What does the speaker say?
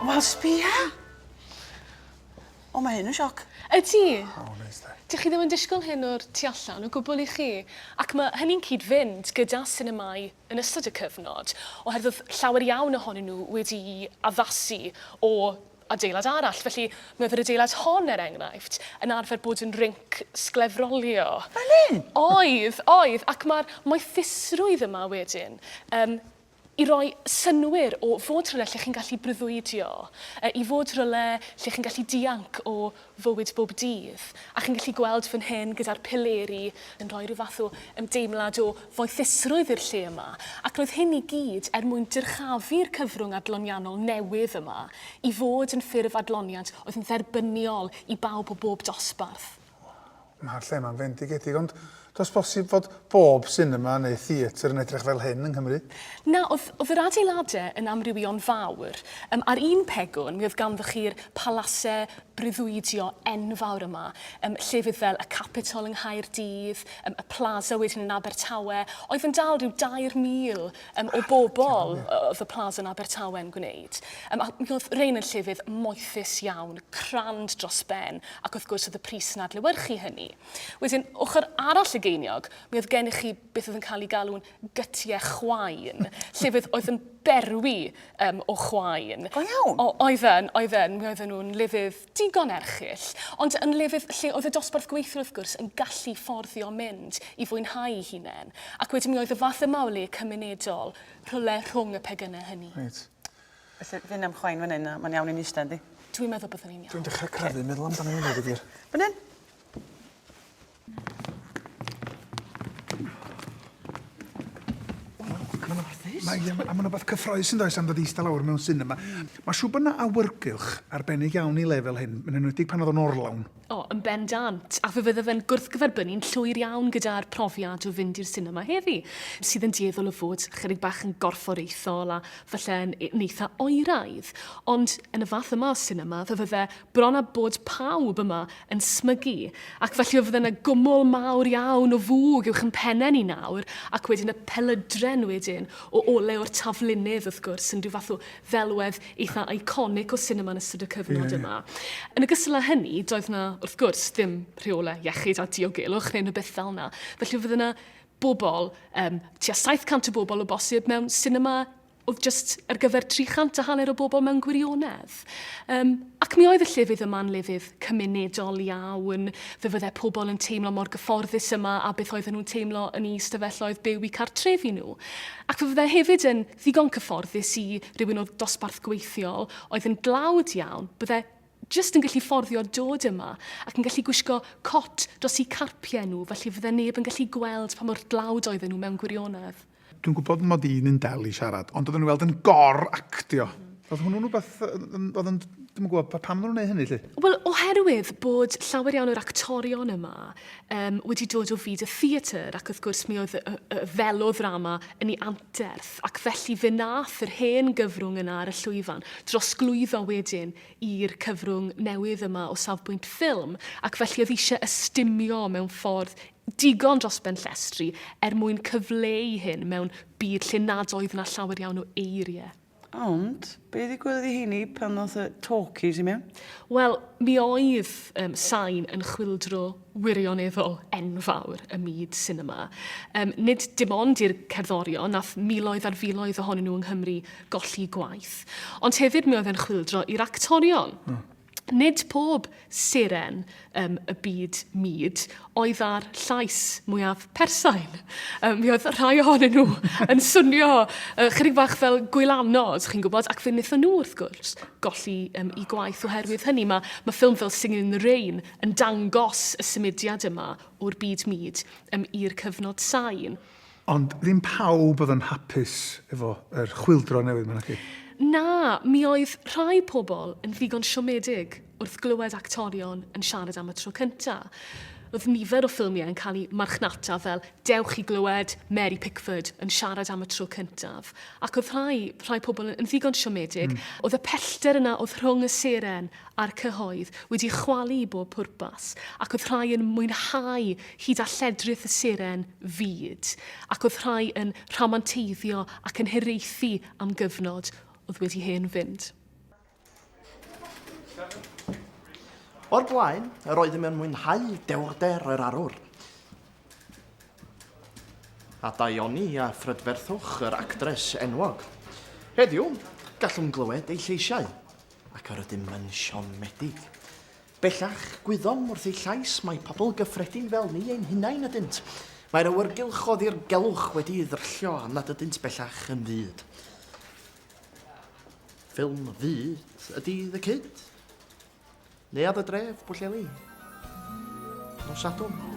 Wel, sbia! O, mae hyn yn sioc. Y ti? O, neis da. Dych chi ddim yn disgwyl hyn o'r tu allan o gwbl i chi, ac mae hynny'n cyd-fynd gyda sinemâu yn ystod y cyfnod, oherwydd oedd llawer iawn ohonyn nhw wedi'u addasu o adeilad arall. Felly, mi oedd yr adeilad hon, er enghraifft, yn arfer bod yn rinc sglefrolio. Fel hyn? Oedd, oedd, ac mae'r moethusrwydd yma wedyn um, i roi synwyr o fod rhywle lle chi'n gallu breuddwydio, i fod rhywle lle chi'n gallu dianc o fywyd bob dydd, a chi'n gallu gweld fan hyn gyda'r pileri yn rhoi rhyw fath o ymdeimlad o foethusrwydd i'r lle yma, ac roedd hyn i gyd er mwyn dyrchafu'r cyfrwng adloniannol newydd yma i fod yn ffurf adloniant oedd yn dderbyniol i bawb o bob dosbarth. Mae'r lle yma'n fendigedig, ond does bosib fod bob sinema neu theatr yn edrych fel hyn yng Nghymru? Na, oedd, oedd yr adeiladau yn amrywio'n fawr. Yym, ar un pegwn, mi oedd ganddoch chi'r palasau breuddwydio enfawr yma, yym, llefydd fel y Capitol yng Nghaerdydd, yym, y Plaza wedyn yn Abertawe, oedd yn dal rhyw 2,000 um, o bobl oedd y Plaza yn Abertawe yn gwneud. Um, a mi oedd Rein yn llefydd moethus iawn, crand dros ben, ac wrth gwrs oedd y pris yn adlewyrchu hynny. Wedyn, ochr arall y geiniog, mi oedd gennych chi beth oedd yn cael ei galw'n gytiau chwain, llefydd oedd yn berwi um, o chwain. Go iawn? Oedden, oedden, mi oedden nhw'n lefydd Digon erchyll. Ond yn lefydd lle oedd y dosbarth gweithiwr wrth gwrs yn gallu fforddio mynd i fwynhau'i hunain, ac wedyn mi oedd y fath yma o le cymunedol rhywle rhwng y pegynau hynny. Reit. Felly, fi'n ymchwain fan hyn a mae'n iawn i ni ista, yndi? Dwi'n meddwl byddwn ni'n iawn. Dwi'n dechrau crafu meddwl amdano hynna, dweud y gwir. Fan hyn? Mae yym a ma' 'na wbath cyffrous yndoes am ddod i ista lawr mewn sinema. Ma' siŵr bo' 'na awyrgylch arbennig iawn i le fel hyn, yn enwedig pan o'dd o'n orlawn. O, yn bendant, a fe fydda fe'n gwrthgyferbynnu'n llwyr iawn gyda'r profiad o fynd i'r sinema heddi, sydd yn dueddol o fod chydig bach yn gorfforaethol a falle yn yn eitha oeraidd. Ond yn y fath yma o sinema, fe fydde bron a bod pawb yma yn smygu, ac felly fydde 'na gwmwl mawr iawn o fwg uwch 'yn penne ni nawr, ac wedyn y pelydren wedyn, o ole o'r taflunydd wrth gwrs, yn rhyw fath o ddelwedd eitha' iconic o sinema yn ystod y cyfnod yma. Yn ogystal â hynny, doedd 'na, wrth gwrs, ddim rheolau iechyd a diogelwch neu unrhyw beth fel 'na, felly fydde 'na bobl, yym, tua 700 o bobl o bosib mewn sinema oedd jyst ar gyfer 300 a hanner o bobl mewn gwirionedd. Um, ac mi oedd y llefydd yma'n lefydd cymunedol iawn. Fe fydde pobl yn teimlo mor gyfforddus yma a beth oedden nhw'n teimlo yn ei ystafelloedd byw i cartrefi nhw. Ac fe fydde hefyd yn ddigon cyfforddus i rywun o dosbarth gweithiol oedd yn dlawd iawn, bydde jyst yn gallu fforddio dod yma ac yn gallu gwisgo cot dros eu carpiau nhw, felly fydde neb yn gallu gweld pa mor dlawd oedden nhw mewn gwirionedd. Dwi'n gwybod mod i'n un del i siarad, ond oedden nhw'n weld yn gor actio. Oedd hwnnw'n rhywbeth, oedd yn, dwi'n gwybod, pa- pam nhw'n gwneud hynny, lle? Wel, oherwydd bod llawer iawn o'r actorion yma um, wedi dod o fyd y theatr, ac wrth gwrs mi oedd y, y feloddrama yn ei anterth, ac felly fe nath yr hen gyfrwng yna ar y llwyfan drosglwyddo wedyn i'r cyfrwng newydd yma o safbwynt ffilm, ac felly oedd eisiau ystumio mewn ffordd digon dros ben llestri er mwyn cyfleu hyn mewn byd lle nad oedd yna llawer iawn o eiriau. Ond, be ddigwyddodd i heini pan ddoth y talkies i mewn? Wel, mi oedd um, Sain yn chwildro wirioneddol enfawr ym myd sinema. Um, nid dim ond i'r cerddorion, nath miloedd ar filoedd ohonyn nhw yng Nghymru golli gwaith, ond hefyd mi oedd e'n chwildro i'r actorion. Hmm. Nid pob seren um, y byd myd oedd â'r llais mwyaf persain. Um, mi oedd rhai ohonyn nhw yn swnio uh, chydig bach fel gwylanod, chi'n gwybod, ac fe wnaethon nhw wrth gwrs golli um, i gwaith oherwydd hynny. Mae, mae ffilm fel Singing in the Rain yn dangos y symudiad yma o'r byd myd um, i'r cyfnod sain. Ond ddim pawb oedd yn hapus efo yr chwyldro newydd ma naci? Na, mi oedd rhai pobl yn ddigon siomedig wrth glywed actorion yn siarad am y tro cynta. Roedd nifer o ffilmiau yn cael eu marchnata fel dewch i glywed Mary Pickford yn siarad am y tro cyntaf, ac oedd rhai, rhai pobl yn ddigon siomedig. Mm. Oedd y pellter yna oedd rhwng y seren a'r cyhoedd wedi chwalu i bob pwrpas, ac oedd rhai yn mwynhau hyd a lledrith y seren fyd, ac oedd rhai yn rhamanteiddio ac yn hiraethu am gyfnod oedd wedi hen fynd. O'r blaen, yr oeddym yn mwynhau dewrder yr arwr, a daioni a phrydferthwch yr actres enwog. Heddiw, gallwn glywed ei lleisiau, ac yr ydym yn siomedig. Bellach, gwyddom wrth eu llais mai pobl gyffredin fel ni ein hunain ydynt. Mae'r awyrgylch o ddirgelwch wedi'i ddryllio am nad ydynt bellach yn fyd. Ffilm fyd ydy The Kid. Neuadd y dref, Pwllheli. Nos Sadwrn.